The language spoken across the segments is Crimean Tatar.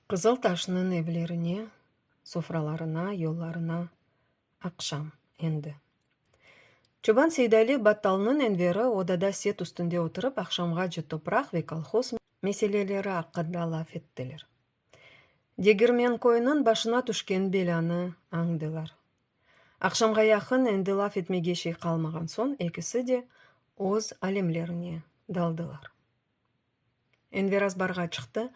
Qızıl taşnıñ evlerine, sofralarına, yollarına aqşam endi. Çoban Seydali battalnıñ enveri odada set üstünde oturıp, aqşamğace topraq ve kolhoz meseleleri aqqında laf ettiler. Degirmenkoyniñ başına tüşken belânı añdılar. Aqşamğa yaqın endi laf etmege şey qalmağan soñ ekisi de öz alemlerine daldılar. Enver azbarğa çıqtı,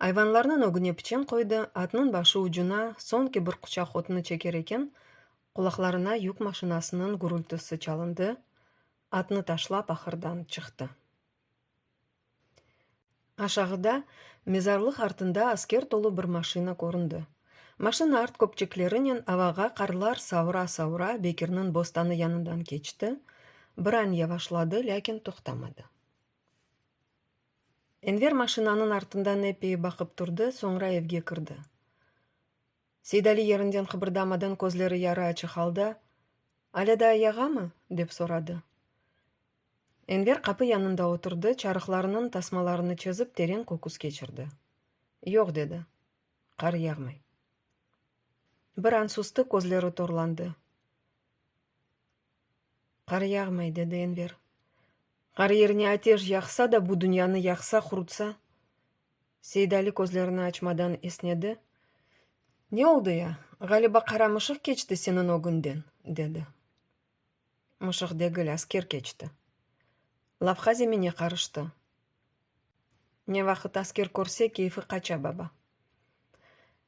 ayvanlarnıñ ögüne piçen qoydı, atnıñ başı ucuna soñki bir quçaq otnı çeker eken, qulaqlarına yük maşinasınıñ gürültüsi çalındı, atnı taşlap ahırdan çıqtı. Aşağıda, mezarlıq artında asker tolu bir maşina köründi. Maşina art köpçeklerinen avağa qarlar savura-savura Bekirniñ bostanı yanından keçti, bir an yavaşladı, lâkin toqtamadı. Enver maşinanıñ artından epey baqıp turdı, soñra evge kirdi. Seydali yerinden qıbırdamadan, közleri yarı açıq halda, Alâda ayağamı? dep soradı. Enver qapı yanında oturdı, çarıqlarınıñ tasmalarını çezip teren köküs keçirdi. Yoq, dedi, qar yağmay. Bir an sustı, közleri torlandı. Qar yağmay, dedi Enver. Qar yerine ateş yaqsa da, bu dünyanı yaqsa, qurutsa? Seydali közlerini açmadan esnedi. Ne oldı ya? Ğaliba qaramışıq keçti seniñ ögüñden, dedi. Mışıq degil, asker keçti. Lavha zemine qarıştı. Ne vaqıt asker körse, keyfi qaça baba.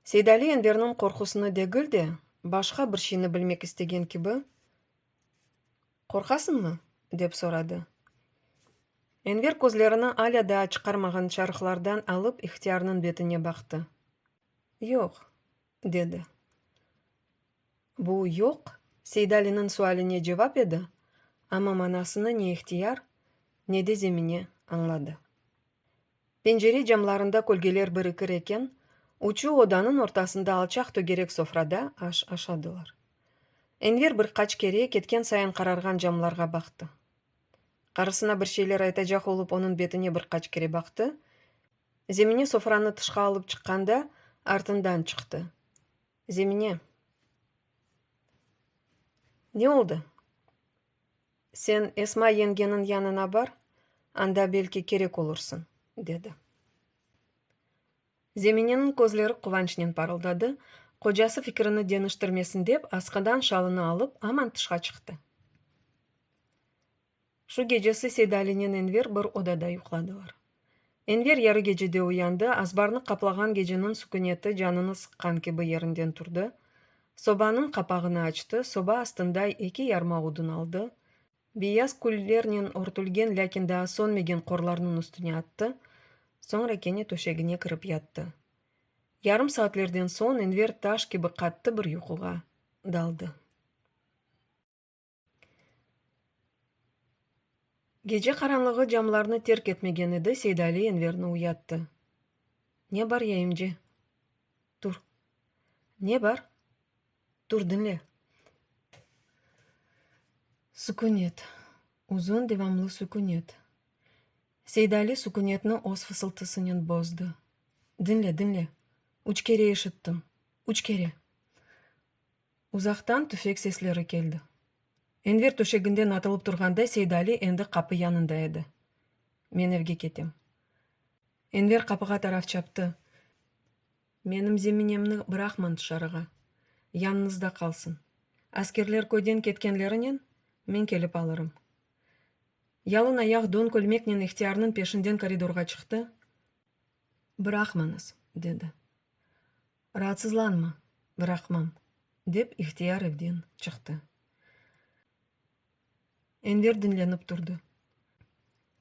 Seydali Enverniñ qorqusını degil de, başqa bir şeyni bilmek istegen kibi, Qorqasıñmı? dep soradı. Enver közlerini alâ daa çıqarmağan çarıqlardan alıp ihtiyarnıñ betine baqtı. Yoq, dedi. Bu, yoq, Seydaliniñ sualine cevap edi, amma manasını ne ihtiyar, ne de zemine añladı. Pencere camlarında kölgeler birikir eken, uçu odanıñ ortasında alçaq tögerek sofrada aş aşadılar. Enver bir qaç kere ketken sayın qararğan camlarğa baqtı. Qarısına bir şeyler aytacaq olıp onıñ betine bir qaç kere baqtı, Zemine sofranı tışqa alıp çıqqanda artından çıqtı, Zemine, ne oldı? Sen Esma yengeniñ yanına bar, anda belki kerek olursıñ, dedi. Zemineniñ közleri quvançnen parıldadı, qocası fikirini deniştirmesin dep, askıdan şalını alıp, aman tışqa çıqtı. Şu gecesi Seydalinen Enver bir odada yuqladılar. Enver yarı gecede uyandı, azbarnı qaplağan geceniñ süküneti canını sıqqan kibi yerinden turdı, sobanıñ qapağını açtı, soba astında eki yarma odun aldı, beyaz küllernen örtülgen, lâkin daa sönmegen qorlarnıñ üstüne attı, soñra kene töşegine kirip yattı. Yarım saatlerden soñ Enver taş kibi qattı bir yuquğa daldı. Gece qaranlığı camlarnı terk etmegen edi, Seydali Enverni uyattı. Ne bar, yayımce? Tur. Ne bar? Tur, diñle. Sükünet. Uzun devamlı sükünet. Seydali sükünetni öz fısıltısınen bozdı. Diñle, diñle. Üç kere eşittim. Üç kere. Uzaqtan tüfek sesleri keldi. Enver töşeginden atılıp turğanda Seydali endi qapı yanında edi. Men evge ketem. Enver qapığa taraf çaptı. Menim Zeminemni bıraqmañ tışarığa. Yanıñızda qalsın. Askerler köyden ketkenlerinen, men kelip alırım. Yalın ayaq don kölmeknen ihtiyarnıñ peşinden koridorğa çıqtı. Bıraqmañız, dedi. Raatsızlanma, bıraqmam, dep İhtiyar evden çıqtı. Enver diñlenip turdı.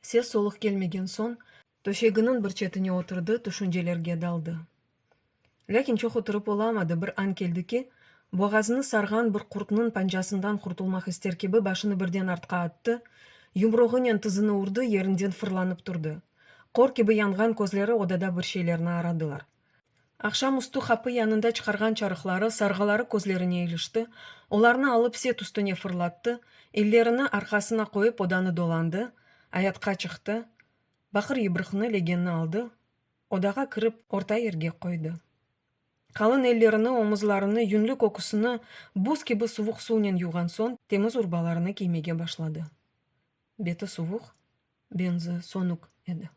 Ses-soluq kelmegen soñ, töşeginiñ bir çetine oturdı, tüşüncelerge daldı. Lâkin çoq oturıp olamadı, bir añ keldi ki, boğazını sarğan bir qurtnıñ pancasından qurtulmaq ister kibi başını birden artqa attı, yumruğınen tizini urdı, yerinden fırlanıp turdı. Qor kibi yanğan közleri odada bir şeylerni aradılar. Aqşam üstü qapı yanında çıqarğan çarıqları, sarğıları közlerine ilişti, olarnı alıp set üstüne fırlattı, ellerini arqasına qoyıp odanı dolandı, ayatqa çıqtı, baqır yıbrıqnı, legenni aldı, odağa kirip, orta yerge qoydı. Qalın ellerini, omuzlarını, yünlü köküsini buz kibi suvuq suvnen yuvğan soñ, temiz urbalarını kiymege başladı. Beti suvuq, benzi, sonük edi.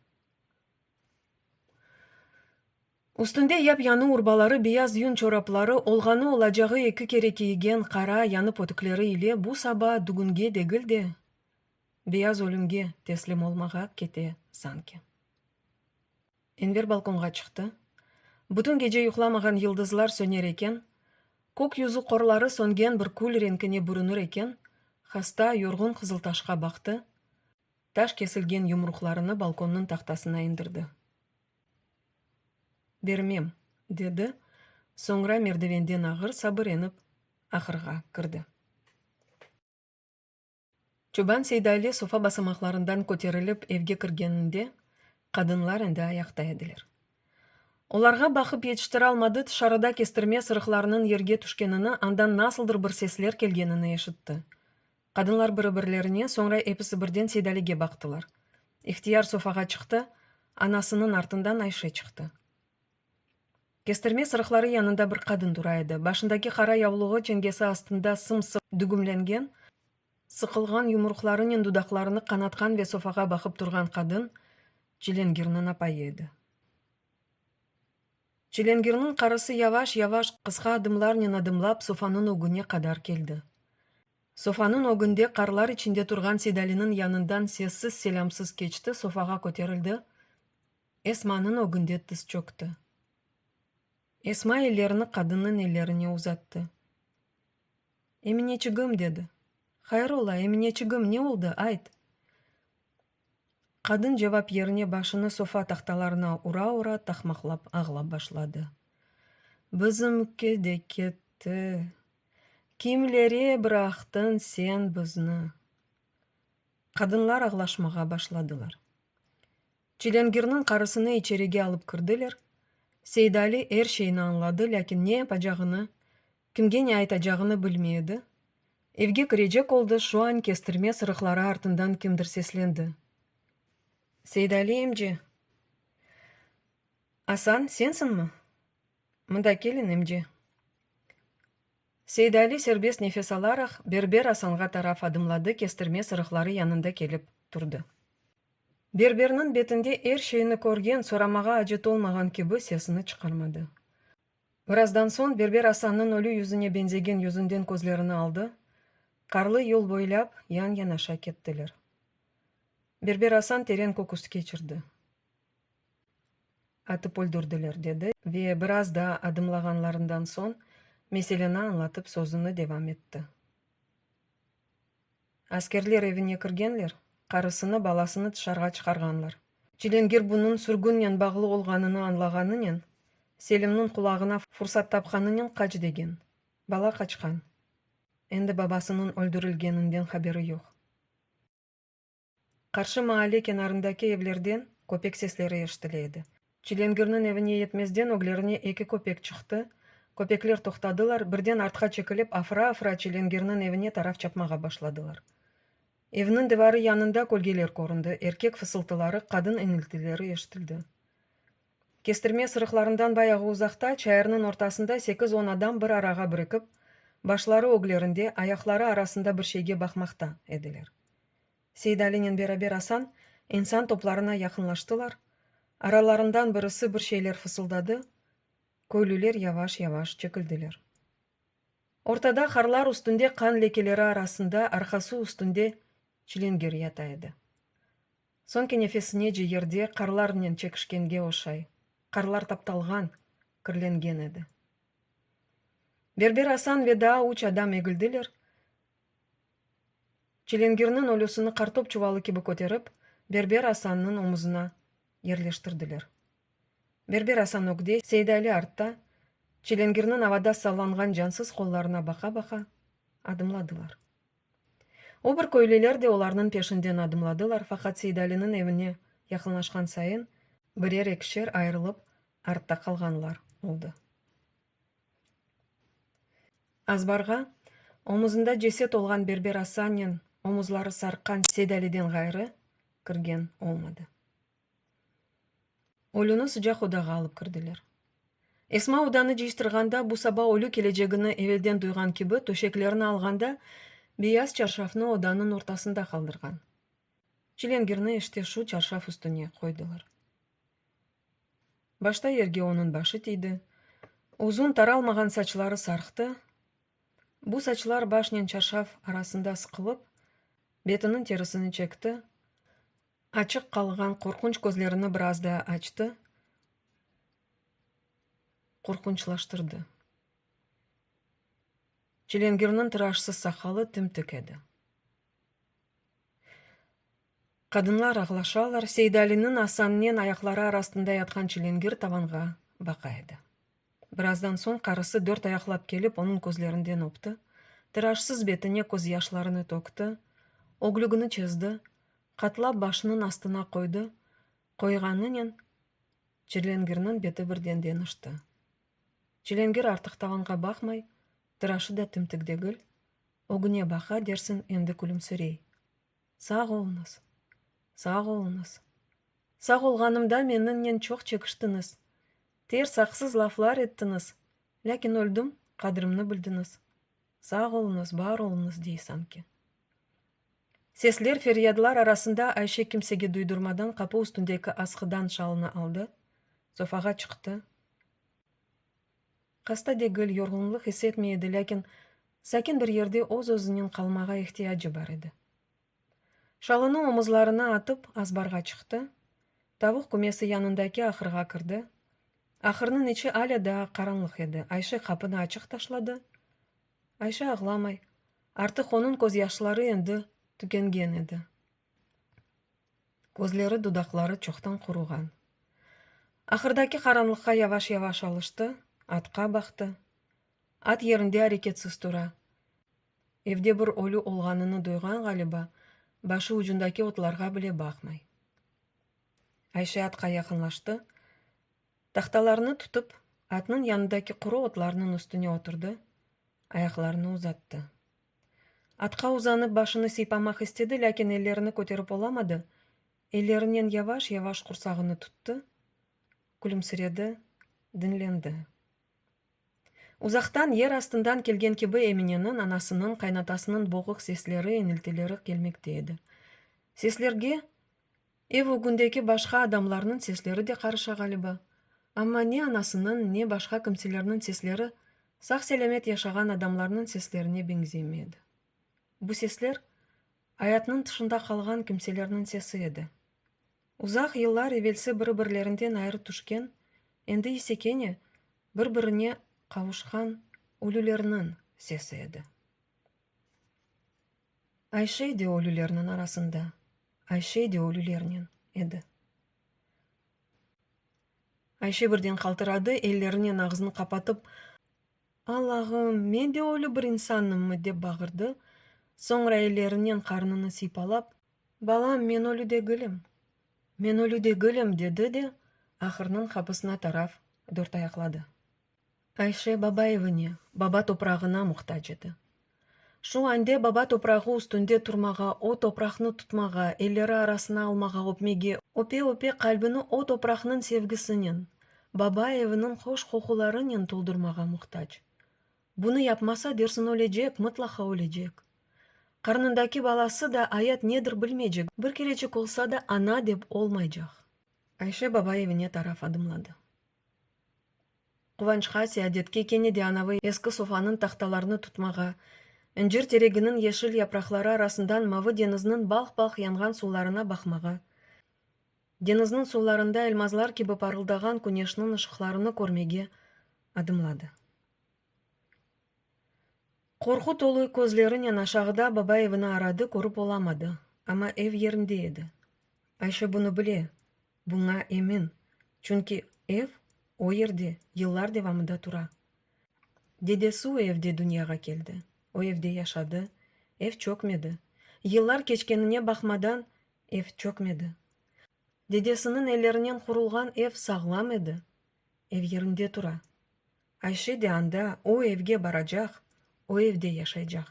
Üstünde yap-yanı urbaları, beyaz yün çorapları, olğanı olacağı eki kere kiygen qara yanı pötükleri ile bu saba dügünge degil de, beyaz ölümge teslim olmağa kete sanki. Enver balkonğa çıqtı. Bütün gece yuqlamağan yıldızlar söner eken, kök yüzü qorları söngen bir kül renkine bürünir eken, hasta, yorğun Qızıltaşqa baqtı, Taş kesilgen yumruqlarını balkonnıñ tahtasına indirdi. Bermem! dedi, soñra merdevenden ağır sabır enip, ahırğa kirdi. Çoban Seydali sofa basamaqlarından köterilip evge kirgeninde, qadınlar endi ayaqta ediler. Olarğa baqıp yetiştiralmadı, tışarıda kestirme sırıqlarınıñ yerge tüşkenini, andan nasıldır bir sesler kelgenini eşitti. Qadınlar biri-birlerine, soñra episi birden Seydalige baqtılar. İhtiyar sofağa çıqtı, anasınıñ artından Ayşe çıqtı. Kestirme sırıqları yanında bir qadın tura edi, başındaki qara yavluğı çengesi astında sım-sıq dügümlengen, sıqılğan yumruqlarınen dudaqlarını qanatqan ve sofağa baqıp turğan qadın Çilengirniñ apayı edi. Çilengirniñ qarısı yavaş-yavaş, qısqa adımlarnen adımlap sofanıñ ögüne qadar keldi. Sofanıñ ögünde qarlar içinde turğan Sedaliniñ yanından sessiz-selâmsız keçti, sofağa köterildi, Esmanıñ ögünde tıs çökti. Esma ellerini qadınnıñ ellerine uzattı. Emineçigim, dedi. Hayır ola, Emineçigim, ne oldı, ayt! Qadın cevap yerine başını sofa tahtalarına ura-ura taqmaqlap ağlap başladı. Bizimki de ketti. Kimlere bıraqtın sen bizni? Qadınlar ağlaşmağa başladılar. Çilengirniñ qarısını içerige alıp kirdiler. Seydali er şeyni añladı, lâkin ne yapacağını Kimge ne aytacağını bilmey edi. Evge kirecek oldı, şu an kestirme sırıqları artından kimdir seslendi. Seydali emce! Asan, sensiñmi? Mında kelin, emce! Seydali serbest nefes alaraq, berber Asanğa taraf adımladı, kestirme sırıqları yanında kelip turdı. Berberniñ betinde er şeyni körgen, soramağa acet olmağan kibi, sesini çıqarmadı. Birazdan soñ Berber Asannıñ ölü yüzüne benzegen yüzünden közlerini aldı, qarlı yol boylâp yan-yanaşa kettiler. Berber Asan teren köküs keçirdi. Atıp öldürdiler, dedi ve biraz daa adımlağanlarından soñ meseleni añlatıp sözüni devam etti. Askerler evine kirgenler, qarısını, balasını tışarğa çıqarğanlar. Çilingir bunıñ sürgünnen bağlı olğanını añlağanınen, Selimniñ qulağına fursat tapqanınen qaç degen. Bala qaçqan. Endi babasınıñ öldürilgeninden haberi yoq. Qarşı maalle kenarındaki evlerden köpek sesleri eşitile edi. Çilengirniñ evine yetmezden öglerine eki köpek çıqtı. Köpekler toqtadılar, birden artqa çekilip, afıra-afıra Çilengirniñ evine taraf çapmağa başladılar. Evniñ divarı yanında kölgeler köründi, erkek fısıltıları, qadın iniltileri eşitildi. Kestirme sırıqlarından bayağı uzaqta, çayırnıñ ortasında sekiz-on adam bir arağa birikip, başları öglerinde, ayaqları arasında bir şeyge baqmaqta ediler. Seydalinen beraber Asan insan toplarına yaqınlaştılar, aralarından birisi bir şeyler fısıldadı, köylüler yavaş-yavaş çekildiler. Ortada harlar üstünde qan lekeleri arasında arqası üstünde çilenger yata edi. Soñki nefesinece yerde qarlarnen çekişkenge oşay, qarlar taptalğan, kirlengen edi. Berber Asan ve daa üç adam egildiler, Çilingirniñ ölüsini qartop çuvalı kibi köterip, Berber Asannıñ omuzına yerleştirdiler. Berber Asan ögde, Seydali artta, çilingirniñ avada sallanğan cansız qollarına baqa-baqa, adımladılar. O bir köylüler de olarnıñ peşinden adımladılar, faqat Seydaliniñ evine yaqınlaşqan sayın, birer-ekişer ayırılıp artta qalğanlar oldı. Azbarğa, omuzında ceset olğan Berber Asannen, omuzları sarqqan Sedaliden ğayrı kirgen olmadı. Ölüni sıcaq odağa alıp kirdiler. Esma odanı cıyıştırğanda, bu saba ölü kelecegini evelden duyğan kibi, töşeklerini alğanda, beyaz çarşafnı odanıñ ortasında qaldırğan. Çilingirni işte şu çarşaf üstüne qoydılar. Başta yerge onıñ başı tiydi. Uzun, taralmağan saçları sarqtı. Bu saçlar başnen çarşaf arasında sıqılıp, betiniñ terisini çekti. Açıq qalğan qorqunç közlerini biraz daa açtı, qorqunçlaştırdı. Çilengirniñ tıraşsız saqalı tım-tıq edi. Qadınlar ağlaşalar, Seydaliniñ Asannen ayaqları arasında yatqan çilingir tavanğa baqa edi. Birazdan soñ qarısı dört ayaqlap kelip onıñ közlerinden öpti, tiraşsız betine közyaşlarını tökti, öglügini çezdi, qatlap başınıñ astına qoydı, qoyğanınen çilingirniñ beti birden deñişti. Çilingir artıq tavanğa baqmay, Tıraşı da tümtük degil, ögüne baqa dersiñ endi külümsirey. Sağ oluñız! Sağ oluñız! Sağ olğanımda meniñnen çoq çekiştiñiz, ters, aqsız laflar ettiñiz, lâkin öldim, qadrimni bildiñiz. Sağ oluñız, bar oluñız dey sanki. Sesler, feryadlar arasında Ayşe kimsege duydurmadan qapı üstündeki asqıdan şalını aldı, sofağa çıqtı. Hasta degil, yorğunlıq is etmey edi, lâkin sakin bir yerde öz-özünen qalmağa ihtiyacı bar edi. Şalını omuzlarına atıp, azbarğa çıqtı, tavuq kümesi yanındaki ahırğa kirdi. Ahırnıñ içi alâ daa qaranlıq edi. Ayşe qapını açıq taşladı. Ayşe ağlamay. Artıq onıñ közyaşları endi tükengen edi. Közleri, dudaqları çoqtan quruğan. Ahırdaki qaranlıqqa yavaş-yavaş alıştı, atqa baqtı. At yerinde areketsiz tura. Evde bir ölü olğanını duyğan ğaliba, başı ucundaki otlarğa bile baqmay. Ayşe atqa yaqınlaştı, tahtalarnı tutıp, atnıñ yanındaki quru otlarnıñ üstüne oturdı, ayaqlarını uzattı. Atqa uzanıp başını sıypamaq istedi, lâkin ellerini köterip olamadı, ellerinen yavaş-yavaş qursağını tuttı, külümsiredi, diñlendi. Uzaqtan, yer astından kelgen kibi Emineniñ, anasınıñ, qaynatasınıñ boğuq sesleri, iniltileri kelmekte edi. Seslerge Ev ögündeki başqa adamlarnıñ sesleri de qarışa ğaliba. Amma ne anasınıñ, ne başqa kimselerniñ sesleri sağ-selâmet yaşağan adamlarnıñ seslerine beñzemey edi. Bu sesler, ayatnıñ tışında qalğan kimselerniñ sesi edi. Uzaq yıllar evelsi biri-birlerinden ayrı tüşken, endi ise kene bir-birine qavuşqan ölülerniñ sesi edi. Ayşe de ölülerniñ arasında, Ayşe de ölülernen edi. Ayşe birden qaltıradı, ellerinen ağzını qapatıp, Allağım, men de ölü bir insannımmı? dep bağırdı, soñra ellerinen qarnını sıypalap, Balam, men ölü degilim, men ölü degilim, dedi de, ahırnıñ qapısına taraf dörtayaqladı. Ayşe Babayevıñe baba toprağına muhtac edi. Şu ande baba toprağı üstünde turmağa, o topraqnı tutmağa, elleri arasına almağa, öpmege, öpe-öpe qalbini o topraqnıñ sevgisinen, baba eviniñ hoş qoqularınen toldurmağa muhtac. Bunı yapmasa, dersiñ ölecek, mıtlaqa ölecek. Qarnındaki balası da ayat nedir bilmeycek, bir kerecik olsa da ana dep olmaycaq. Ayşe Babayevıñe taraf adımladı. Quvançqa, seadetke kene de anavı eski sofanıñ tahtalarını tutmağa, incir tereginiñ yeşil yapraqları arasından mavı deñizniñ balh-balh yanğan suvlarına baqmağa, deñizniñ suvlarında elmazlar kibi parıldağan küneşniñ ışıqlarını körmege adımladı. Qorqu tolu közlerinen aşağıda baba evini aradı, körip olamadı, amma ev yerinde edi. Ayşe bunı bile, Buña emin, çünki ev o yerde yıllar devamında tura. Dedesi o evde dünyağa keldi, o evde yaşadı, ev çökmedi. Yıllar keçkenine baqmadan, ev çökmedi. Dedesiniñ ellerinen qurulğan ev sağlam edi, ev yerinde tura. Ayşe de anda, o evge baracaq, o evde yaşaycaq.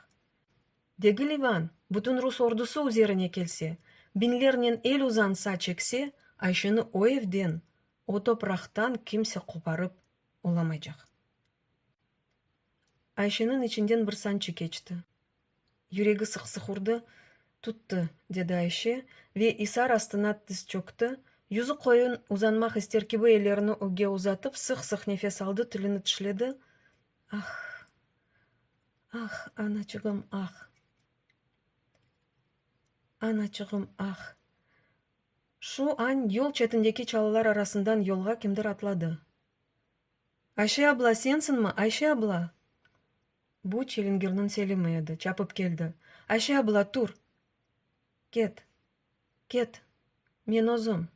Degil İvan, bütün rus ordusı üzerine kelse, biñlernen el uzansa, çekse, Ayşeni o evden, o topraqtan kimse qoparıp olamaycaq. Ayşeniñ içinden bir sançı keçti. Yüregi sıq-sıq urdı. Tuttı, dedi Ayşe ve isar astına tiz çökti. Yüzü qoyun, uzanmaq ister kibi ellerini ögge uzatıp, sıq-sıq nefes aldı, tilini tişledi. Ah! Ah, anaçığım, ah! Anaçığım, ah! Şu añ yol çetindeki çalılar arasından yolğa kimdir atladı. Ayşe abla, sensiñmi, Ayşe abla? Bu Çilingirniñ Selimi edi, çapıp keldi. Ayşe abla, tur! Ket! Ket! Men özüm!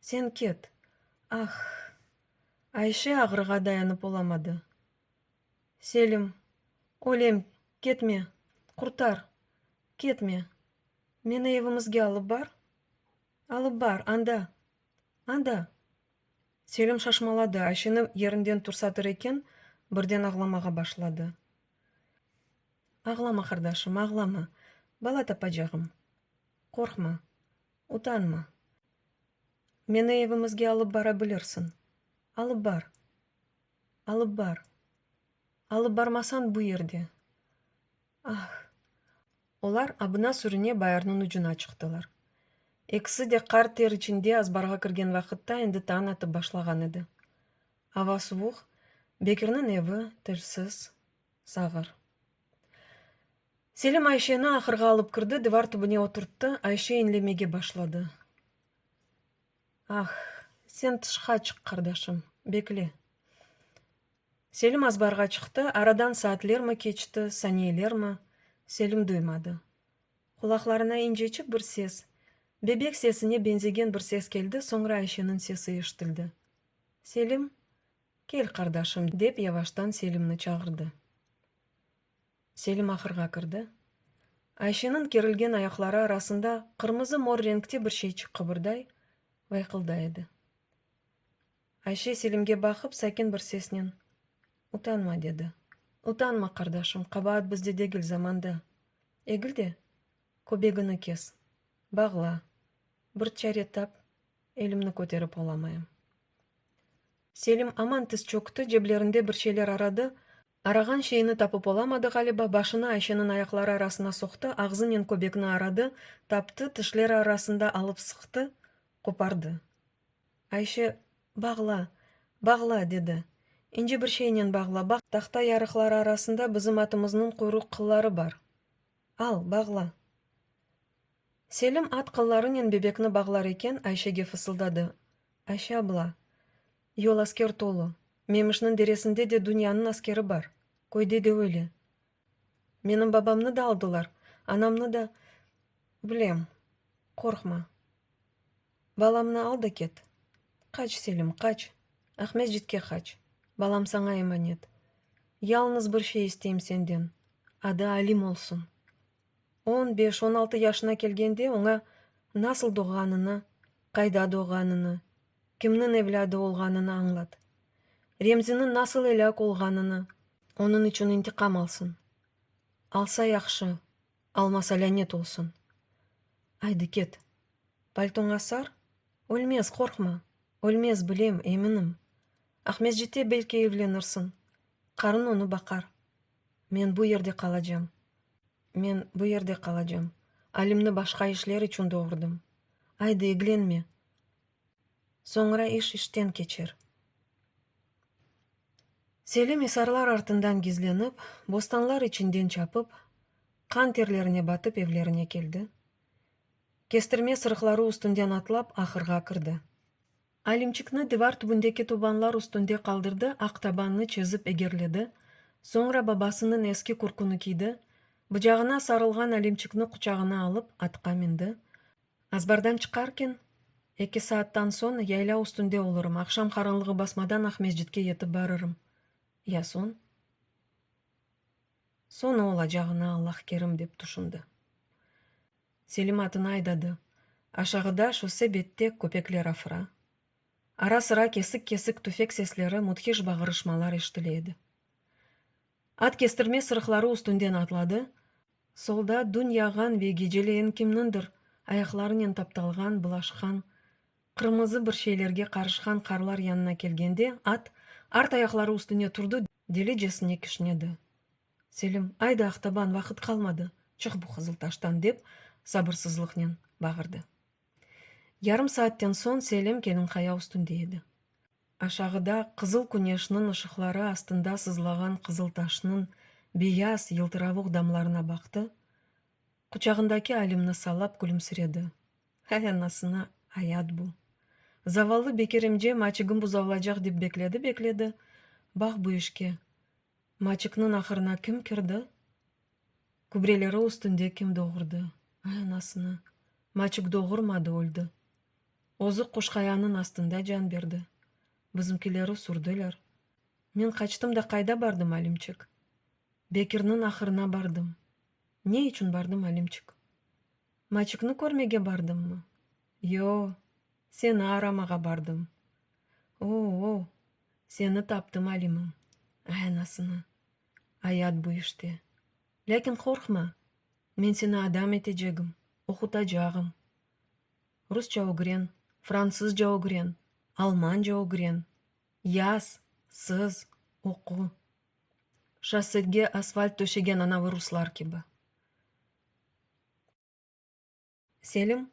Sen ket! Ah! Ayşe ağrığa dayanıp olamadı. Selim, ölem, ketme! Qurtar! Ketme! Meni evimizge alıp bar! Alıp bar, anda! Anda! Selim şaşmaladı, Ayşeni yerinden tursatır eken, birden ağlamağa başladı. Ağlama, qardaşım, ağlama, bala tapacağım. Qorqma, utanma. Meni evimizge alıp bara bilirsiñ. Alıp bar. Alıp bar. Alıp barmasañ, bu yerde. Ah! Olar abına-sürüne bayırnıñ ucuna çıqtılar. Ekisi de qar ter içinde azbarğa kirgen vaqıtta endi tañ atıp başlağan edi. Ava suvuq, Bekirniñ evi, tilsiz, sağır. Selim Ayşeni ahırğa alıp kirdi, divar tübüne oturttı, Ayşe inlemege başladı. Ah! Sen tışqa çıq, qardaşım, bekle. Selim azbarğa çıqtı, aradan saatlermi keçti, saniyelermi, Selim duymadı. Qulaqlarına inceçik bir ses, bebek sesine benzegen bir ses keldi, soñra Ayşeniñ sesi eşitildi. Selim, kel, qardaşım, dep yavaştan Selimni çağırdı. Selim ahırğa kirdi. Ayşeniñ kerilgen ayaqları arasında qırmızı-mor renkte bir şeyçik qıbırday, vayqılday edi. Ayşe Selimge baqıp sakin bir sesnen, Utanma, dedi. Utanma, qardaşım, qabaat bizde degil, zamanda. Egil de, köbegini kes, bağla, bir çare tap, elimni köterip olamayım. Selim aman tiz çökti, ceblerinde bir şeyler aradı, arağan şeyini tapıp olamadı ğaliba, başını Ayşeniñ ayaqları arasına soqtı, ağzınen köbekni aradı, taptı, tişleri arasında alıp sıqtı, qopardı. Ayşe, Bağla, bağla! dedi. İnce bir şeynen bağla, baq, tahta yarıqları arasında bizim atımıznıñ quyruq qılları bar. Al, bağla! Selim at qıllarınen bebekni bağlar eken, Ayşege fısıldadı, Ayşe abla, yol asker tolu, Memişniñ deresinde de dünyanıñ askeri bar, köyde de öyle. Menim babamnı da aldılar, anamnı da. Bilem, qorqma. Balamnı al da ket. Qaç, Selim, qaç. Aqmescitke qaç. Balam saña emanet. Yalnız bir şey isteyim senden, adı Alim olsun. On beş, on altı yaşına kelgende oña nasıl doğğanını, qayda doğğanını, kimniñ evlâdı olğanını añlat. Remziniñ nasıl elâk olğanını, onıñ içün intiqam alsın. Alsa yahşı, almasa lânet olsun. Aydı ket. Paltoña sar, ölmez, qorqma, ölmez, bilem, eminim. Aqmescitte belki evlenirsiñ, qarın onı baqar. Men bu yerde qalacam. Men bu yerde qalacam. Alimni başqa işler içün doğurdım. Aydı, eglenme. Soñra iş işten keçer. Selim isarlar artından gizlenip, bostanlar içinden çapıp, qan terlerine batıp evlerine keldi. Kestirme sırıqları üstünden atlap, ahırğa kirdi. Alimçikni divar tübündeki tubanlar üstünde qaldırdı, aq tabannı çezip egerledi, soñra babasınıñ eski kürküni kiydi, bıcağına sarılğan Alimçikni quçağına alıp, atqa mindi. Azbardan çıqarken, Eki saattan soñ yayla üstünde olurım, aqşam qaranlığı basmadan Aqmescitke yetip barırım. Ya soñ? Soñ ne olacağına Allah kerim, dep tüşündi. Selimatını aydadı. Aşağıda, şose bette köpekler afıra. Ara-sıra kesik-kesik tüfek sesleri, müthiş bağırışmalar eşitile edi. At kestirme sırıqları üstünden atladı, solda dün yağğan ve geceleyin kimnindir ayaqlarınen taptalğan, bulaşqan, qırmızı bir şeylerge qarışqan qarlar yanına kelgende at art ayaqları üstüne turdı, delicesine kişnedi. Selim, ayda Ahtaban, vaqıt qalmadı, çık bu Qızıltaştan, dep sabırsızlıqnen bağırdı. Yarım saatten soñ Selim Kelinqaya üstünde edi. Aşağıda qızıl küneşniñ ışıqları astında sızlağan Qızıltaşnıñ beyaz, yıltıravuq damlarına baqtı, quçağındaki Alimni salap külümsiredi, Hay anasına, ayat bu! Zavallı Bekir imcem açıgım buzavlacaq dep bekledi-bekledi, bax bu işke, Maçıqnıñ ahırına kim kirdi? Kübreleri üstünde kim doğurdı? Ay, anasını! Maçıq doğurmadı, öldi. Özü Qoşqayanıñ astında can berdi. Bizimkileri sürdiler. Men qaçtım da qayda bardım, Alimçik? Bekirniñ ahırına bardım. Ne içün bardım, Alimçik? Maçıknı körmege bardımmı? Yo, seni aramağa bardım. O-o, seni taptım, Alimim. Ay anasını! Ayat bu işte. Lâkin qorqma, men seni adam etecegim, oqutacağım. Rusça ögren, fransızca ögren, almanca ögren, yaz, sız, oqu. Şossege asfalt töşegen anavi ruslar kibi. Selim,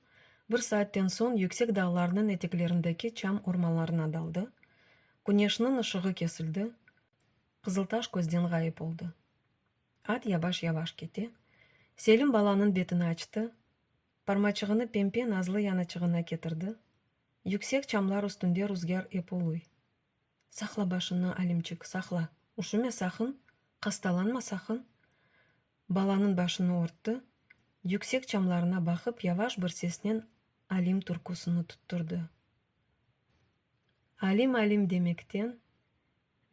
bir saatten soñ yüksek dağlarnıñ eteklerindeki çam ormanlarına daldı, küneşniñ ışığı kesildi, Qızıltaş közden ğayıp oldı. At yavaş-yavaş kete, Selim balanıñ betini açtı, parmaçığını pempe nazlı yanaçığına ketirdi, yüksek çamlar üstünde ruzgâr ep uluy. Saqla başını, Alimçik, saqla, üşüme saqın, hastalanma saqın! Balanıñ başını örtti, yüksek çamlarına baqıp yavaş bir sesnen Alim türküsini tutturdı. Alim, Alim demekten,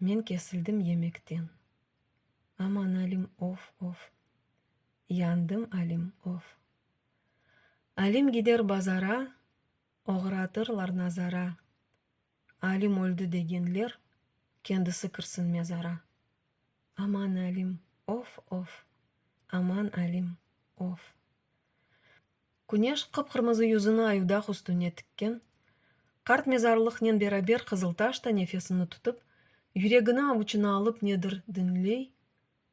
men kesildim yemekten. Aman Alim, of, of, yandım Alim, of. Alim gider bazara, oğratırlar nazara. Alim öldi degenler, kendisi kirsin mezara. Aman Alim, of, of! Aman Alim, of! Küneş qıp-qırmızı yüzüni ayudaq üstüne tikken, qart mezarlıqnen beraber Qızıltaş da nefesini tutıp, yüregini avuçına alıp nedir diñley,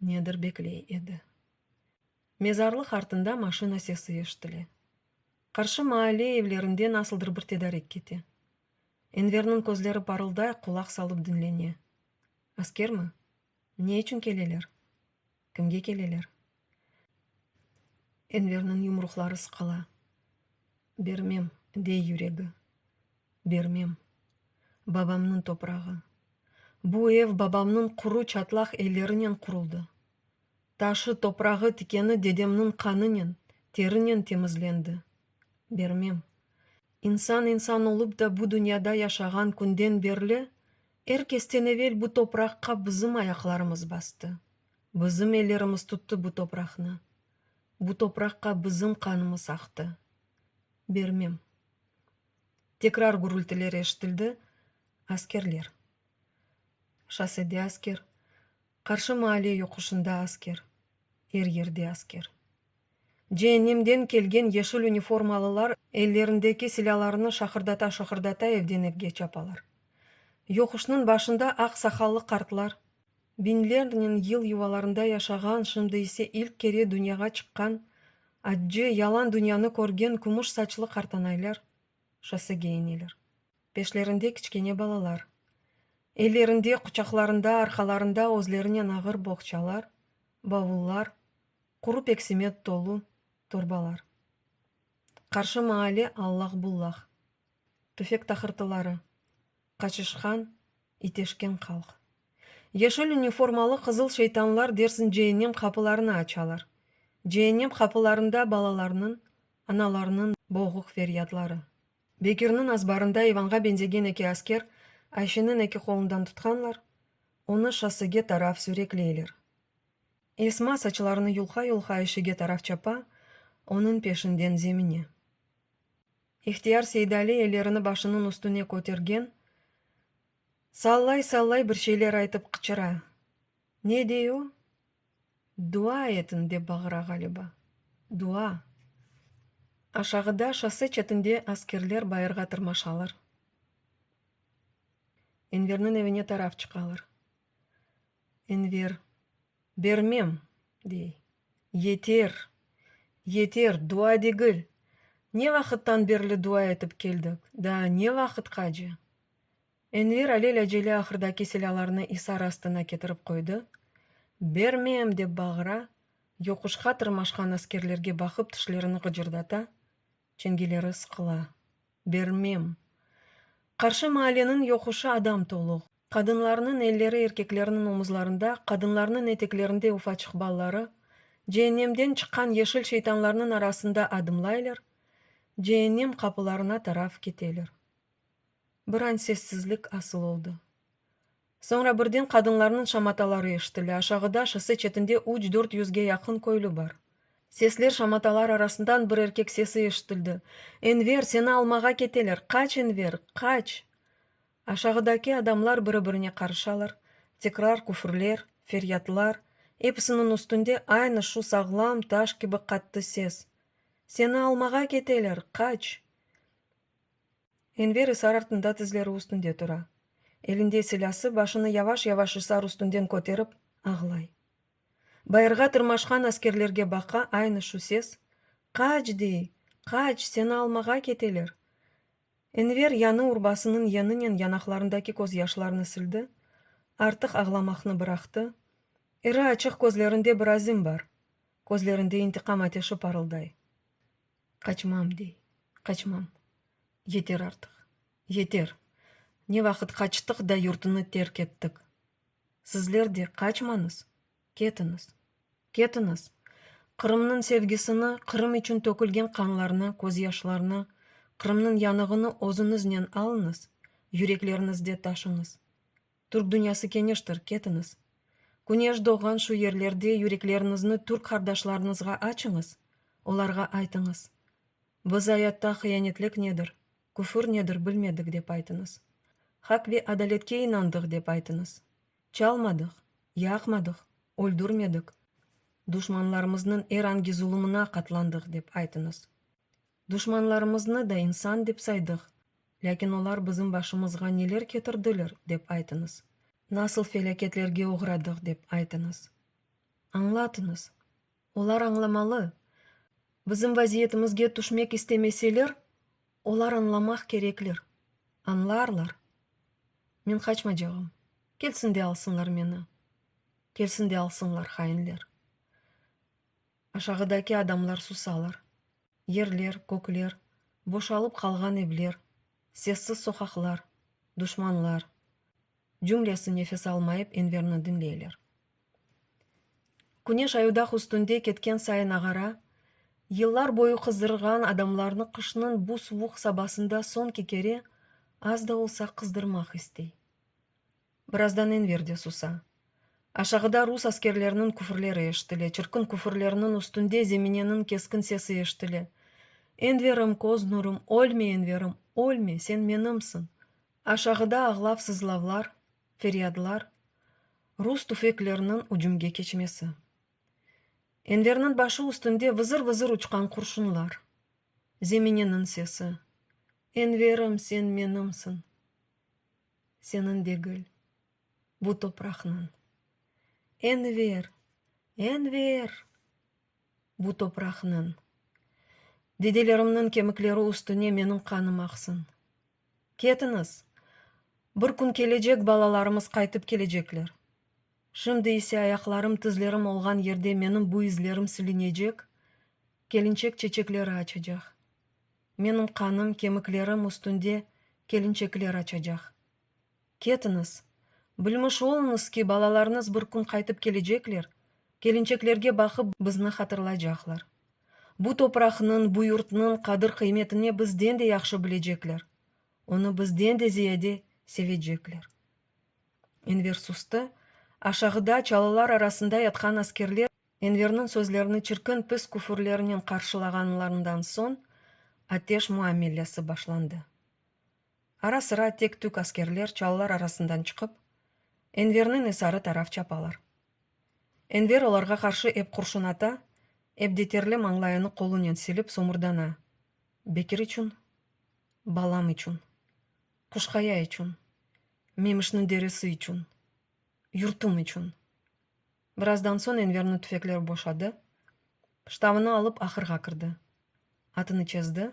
nedir bekley edi. Mezarlıq artında maşina sesi eşitile. Qarşı maale evlerinden asıldır bir tedarik kete. Enverniñ közleri parılday, qulaq salıp diñlene. Askermi? Ne içün keleler? Kimge keleler? Enverniñ yumruqları sıqıla. Bermem, dey yüregi. Bermem. Babamnıñ toprağı. Bu ev babamnıñ quru, çatlaq ellerinen quruldı. Taşı, toprağı, tikeni dedemniñ qanınen, terinen temizlendi. Bermem. İnsan insan olıp da bu dünyada yaşağan künden berli, er kesten evel bu topraqqa bizim ayaqlarımız bastı, bizim ellerimiz tuttı bu topraqnı, bu topraqqa bizim qanımız aqtı. Bermem. Tekrar gürültiler eşitildi, askerler. Şossede asker, qarşı maale yoquşında asker, er yerde asker. Ceennemden kelgen yeşil uniformalılar ellerindeki silâlarını şaqırdata-şaqırdata evden evge çapalar. Yoquşnıñ başında aq saqallı qartlar, biñlernen yıl yuvalarında yaşağan, şimdi ise ilk kere dünyağa çıqqan, accı, yalan dünyanı körgen kümüş saçlı qartanaylar şossege ineler. Peşlerinde kiçkene balalar. Ellerinde, quçaqlarında, arqalarında özlerinen ağır boğçalar, bavullar, quru peksimet tolu torbalar. Qarşı maale allaq-bullaq. Tüfek taqırtıları. Qaçışqan, iteşken halq. Yeşil üniformalı qızıl şeytanlar dersin ceennem qapılarını açalar. Ceennem qapılarında balalarnıñ, analarnıñ boğuq feryadları. Bekirniñ azbarında İvanğa benzegen eki asker Ayşeniñ eki qolundan tutqanlar, onı şossege taraf sürekleyler. Esma saçlarını yulqa-yulqa eşege taraf çapa, onıñ peşinden zemine. İhtiyar Seydali ellerini başınıñ üstüne kötergen, sallay-sallay bir şeyler aytıp qıçıra. Ne dey o? Dua etiñ, dep bağıra ğaliba. Dua! Aşağıda, şosse çetinde askerler bayırğa tırmaşalar. Enverniñ evine taraf çıqalar. Enver, Bermem! dey. Yeter! Yeter! Dua degil! Ne vaqıttan berli dua etip keldik, daa ne vaqıtqace? Enver alel-acele ahırdaki silâlarnı isar astına ketirip qoydı, Bermem! dep bağıra, yoquşqa tırmaşqan askerlerge baqıp tişlerini qıcırdata, çengeleri sıqıla. Bermem! Qarşı maaleniñ yoquşı adam tolu. Qadınlarnıñ elleri erkeklerniñ omuzlarında, qadınlarnıñ eteklerinde ufaçıq balları, ceennemden çıqqan yeşil şeytanlarnıñ arasında adımlaylar, ceennem qapılarına taraf keteler. Bir an sessizlik asıl oldı. Soñra birden qadınlarnıñ şamataları eşitile, aşağıda, şosse çetinde üç, dört yüzge yaqın köylü bar. Sesler, şamatalar arasından bir erkek sesi eşitildi, Enver, seni almağa keteler, qaç, Enver, qaç! Aşağıdaki adamlar biri-birine qarışalar, tekrar küfürler, feryatlar, episiniñ üstünde aynı şu sağlam, taş kibi qattı ses, Seni almağa keteler, qaç! Enver isar artında tizleri üstünde tura. Elinde silâsı, başını yavaş-yavaş isar üstünden köterip, ağlay. Bayırğa tırmaşqan askerlerge baqa, aynı şu ses, Qaç! dey, qaç, seni almağa keteler! Enver yanı urbasınıñ yeninen yanaqlarındaki közyaşlarını sildi, artıq ağlamaqnı bıraqtı, iri açıq közlerinde bir azim bar, közlerinde intiqam ateşi parılday. Qaçmam, dey, qaçmam. Yeter artıq, yeter! Ne vaqıt qaçtıq da yurtını terk ettik? Sizler de qaçmañız, ketiñiz, ketiñiz! Qırımnıñ sevgisini, Qırım içün tökülgen qanlarnı, közyaşlarnı, Qırımnıñ yanığını özüñiznen alıñız, yürekleriñizde taşıñız. Türk dünyası keñiştir, ketiñiz. Küneş doğğan şu yerlerde yürekleriñizni türk qardaşlarıñızğa açıñız, olarğa aytıñız, Biz ayatta hıyanetlik nedir, küfür nedir bilmedik dep aytıñız. Haq ve adaletke inandıq dep aytıñız. Çalmadıq, yaqmadıq, öldürmedik, duşmanlarımıznıñ er angi zulumına qatlandıq dep aytıñız. Duşmanlarımıznı da insan dep saydıq, lâkin olar bizim başımızğa neler ketirdiler dep aytıñız, nasıl felâketlerge oğradıq dep aytıñız. Añlatıñız. Olar añlamalı. Bizim vaziyetimizge tüşmek istemeseler, olar añlamaq kerekler. Añlarlar. Men qaçmacağım. Kelsin de alsınlar meni. Kelsin de alsınlar, hainler. Aşağıdaki adamlar susalar. Yerler, kökler, boşalıp qalğan evler, sessiz soqaqlar, duşmanlar, cümlesi nefes almayıp Enverni diñleyler. Küneş ayudaq üstünde ketken sayın ağara, yıllar boyu qızdırğan adamlarnı qışnıñ bu suvuq sabasında soñki kere az da olsa qızdırmaq istey. Birazdan Enver de susa. Aşağıda rus askerleriniñ küfürleri eşitile, çirkin küfürlerniñ üstünde Zemineniñ keskin sesi eşitile, Enverim, köz nurum, ölme, Enverim, ölme, sen menimsiñ! Aşağıda ağlav-sızlavlar, feryadlar, rus tüfekleriniñ ücümge keçmesi. Enverniñ başı üstünde vızır-vızır uçqan qurşunlar. Zemineniñ sesi, Enverim, sen menimsiñ! seniñ degil, bu topraqnıñ. Enver! Enver! Bu topraqnıñ. Dedelerimniñ kemikleri üstüne meniñ qanım aqsın. Ketiñiz! Bir kün kelecek balalarımız qaytıp kelecekler. Şimdi ise ayaqlarım, tizlerim olğan yerde menim bu izlerim silinecek, kelinçek çeçekleri açacaq. Menim qanım kemiklerim üstünde kelinçekler açacaq. Ketiñiz, bilmiş oluñız ki, balalarıñız bir kün qaytıp kelecekler, kelinçeklerge baqıp bizni hatırlaycaqlar. Bu topraqnıñ, bu yurtnıñ qadir-qıymetini bizden de yahşı bilecekler, onı bizden de ziyade sevecekler. Enver sustı, aşağıda çalılar arasında yatqan askerler Enverniñ sözlerini çirkin pis küfürlernen qarşılağanlarından soñ ateş muamelesi başlandı. Ara-sıra tek-tük askerler çalılar arasından çıqıp, Enverniñ esarı taraf çapalar. Enver olarğa qarşı ep qurşun ata, ep de terli mañlayını qolunen silip somurdana, Bekir içün, balam içün, Quşqaya içün, Memişniñ derisi içün, yurtum içün! Birazdan soñ Enverni tüfekler boşadı, ştavını alıp ahırğa kirdi. Atını çezdi.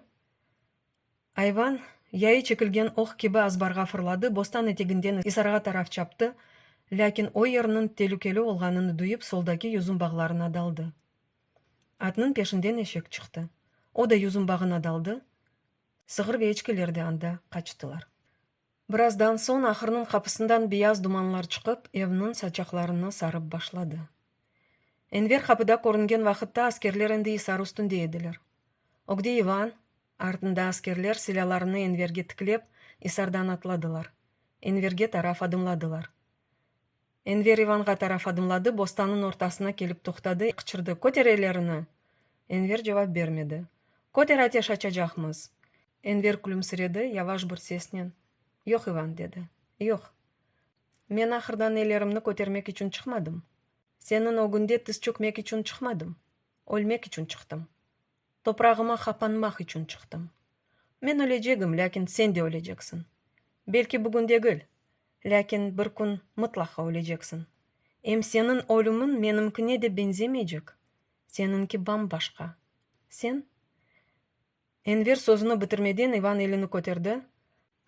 Ayvan, yayı çekilgen oq kibi azbarğa fırladı, bostan eteginden isarğa taraf çaptı, lâkin o yerniñ telükeli olğanını duyıp soldaki yüzüm bağlarına daldı. Atnıñ peşinden eşek çıqtı, o da yüzüm bağına daldı, sığır ve eçkiler de anda qaçtılar. Birazdan soñ ahırnıñ qapısından beyaz dumanlar çıqıp, evniñ saçaqlarını sarıp başladı. Enver qapıda körüngen vaqıtta askerler endi isar üstünde ediler. Ögde İvan, artında askerler silâlarını Enverge tiklep, isardan atladılar, Enverge taraf adımladılar. Enver İvanğa taraf adımladı, bostanıñ ortasına kelip toqtadı, qıçırdı, Köter ellerini! Enver cevap bermedi. Köter, ateş açacaqmız! Enver külümsiredi, yavaş bir sesnen, Yoq, İvan, dedi, yoq. Men ahırdan ellerimni kötermek içün çıqmadım. Seniñ ögünde tiz çökmek içün çıqmadım. Ölmek içün çıqtım. Toprağıma qapanmaq içün çıqtım. Men ölecegim, lâkin sen de öleceksin. Belki bugün degil, lâkin bir kün mıtlaqa öleceksin. Em seniñ ölümiñ menimkine de benzemeycek, seniñki bam-başqa. Sen? Enver sözüni bitirmeden İvan elini köterdi,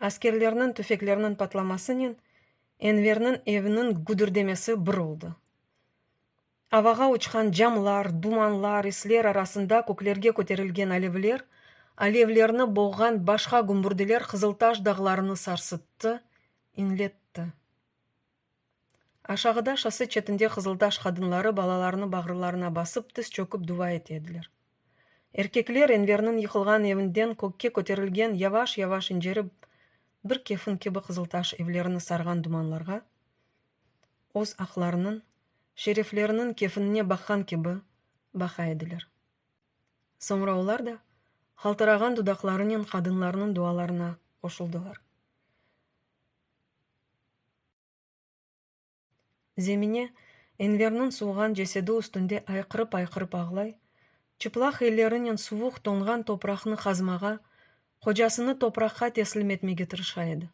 askerlerniñ tüfekleriniñ patlamasınen Enverniñ eviniñ güdirdemesi bir oldı. Avağa uçqan camlar, dumanlar, isler arasında köklerge köterilgen alevler, alevlerni boğğan başqa gümbürdiler Qızıltaş dağlarını sarsıttı, inletti. Aşağıda, şosse çetinde qızıltaş qadınları balalarını bağrılarına basıp, tiz çökip duva ete ediler. Erkekler Enverniñ yıqılğan evinden kökke köterilgen, yavaş-yavaş incerip, bir kefin kibi qızıltaş evlerini sarğan dumanlarğa, öz aqlarınıñ, şerefleriniñ kefinine baqqan kibi baqa ediler. Soñra olar da qaltırağan dudaqlarınen qadınlarnıñ dualarına qoşuldılar. Zemine Enverniñ suvğan cesedi üstünde ayqırıp-ayqırıp ağlay, çıplaq ellerinen suvuq toñğan topraqnı qazmağa, qocasını topraqqa teslim etmege tırışa edi.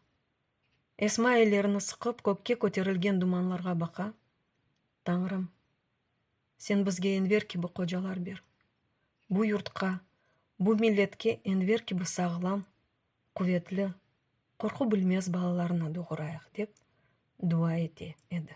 Esma ellerini sıqıp, kökke köterilgen dumanlarğa baqa, Tañrım, Sen bizge Enver kibi qocalar ber. Bu yurtqa, bu milletke Enver kibi sağlam, quvetli, qorqu bilmez balalarnı doğurayıq, dep dua ete edi.